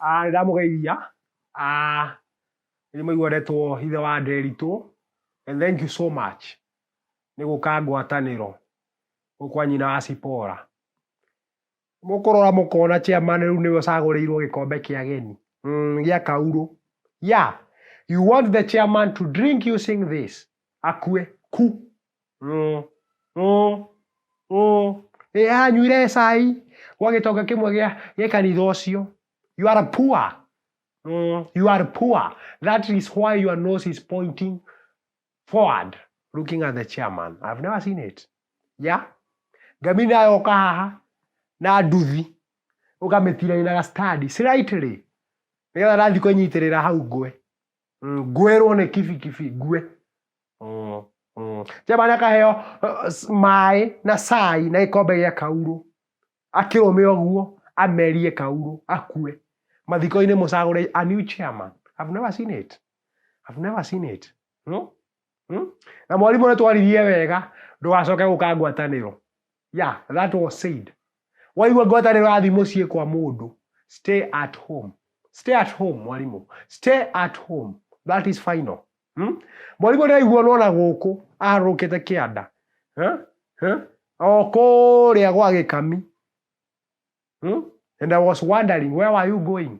Nĩ ndamũgeithia, nĩ ndĩramaigua ndetwo ithe wa Nderitu, and thank you so much nĩ gũka ngwatanĩro gũkũ kwa nyina wa Zipora. Mũkũrora mũkona chairman rĩu nĩwe ũcagũrĩirwo gĩkombe kĩa ageni gĩa kaurũ. Yeah, you want the chairman to drink using this akue ku mm, mm, mm. Ĩ, anyuire cai gwa gĩtonga kĩmwe gĩa gĩa kanitha ũcio you are poor mm, you are poor that is why your nose is pointing forward looking at the chairman i've never seen it yeah ngami nayo ũka haha na nduthi ũkamĩtiraina gacitadi slightly nĩgetha nathiĩ kwĩnyitĩrĩra hau ngwe ngwerwo nĩ kibikibi ngue mm, mm. jeba nĩ akaheo uh, maĩ na cai na gĩkombe gĩa kaurũ akĩrũme ũguo amerie kaurũ akue mathiko-inĩ mũcagũre a new chairman I've never seen it I've never seen it no? Hmm? Na mwarimũ nĩ twaririe wega ndũgacoke gũka ngwatanĩro. Yeah, that was said. Waigua ngwatanĩro yathi mũciĩ kwa mũndũ, stay at home. Stay at home mwarimũ. Stay at home. That is final. Hmm? Mwarimũ ndĩraigua nona gũkũ aharũrũkĩte kĩanda. Huh? Huh? O kũrĩa gwa gĩkami. Hmm? And I was wondering where were you going?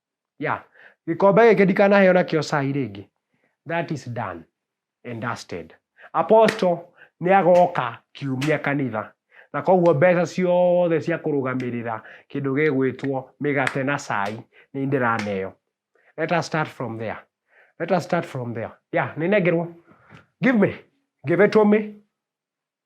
Yeah. Gĩkombe gĩkĩ ndikanaheo nakĩo cai rĩngĩ. That is done and dusted. Apostle nĩ agoka kiumia kanitha na koguo mbeca ciothe cia kũrũgamĩrĩra kĩndũ gĩgwĩtwo mĩgate na cai nĩ ndĩraneo. Let us start from there. Let us start from there. Yeah, nĩ nengerwo. Give me. Give it to me.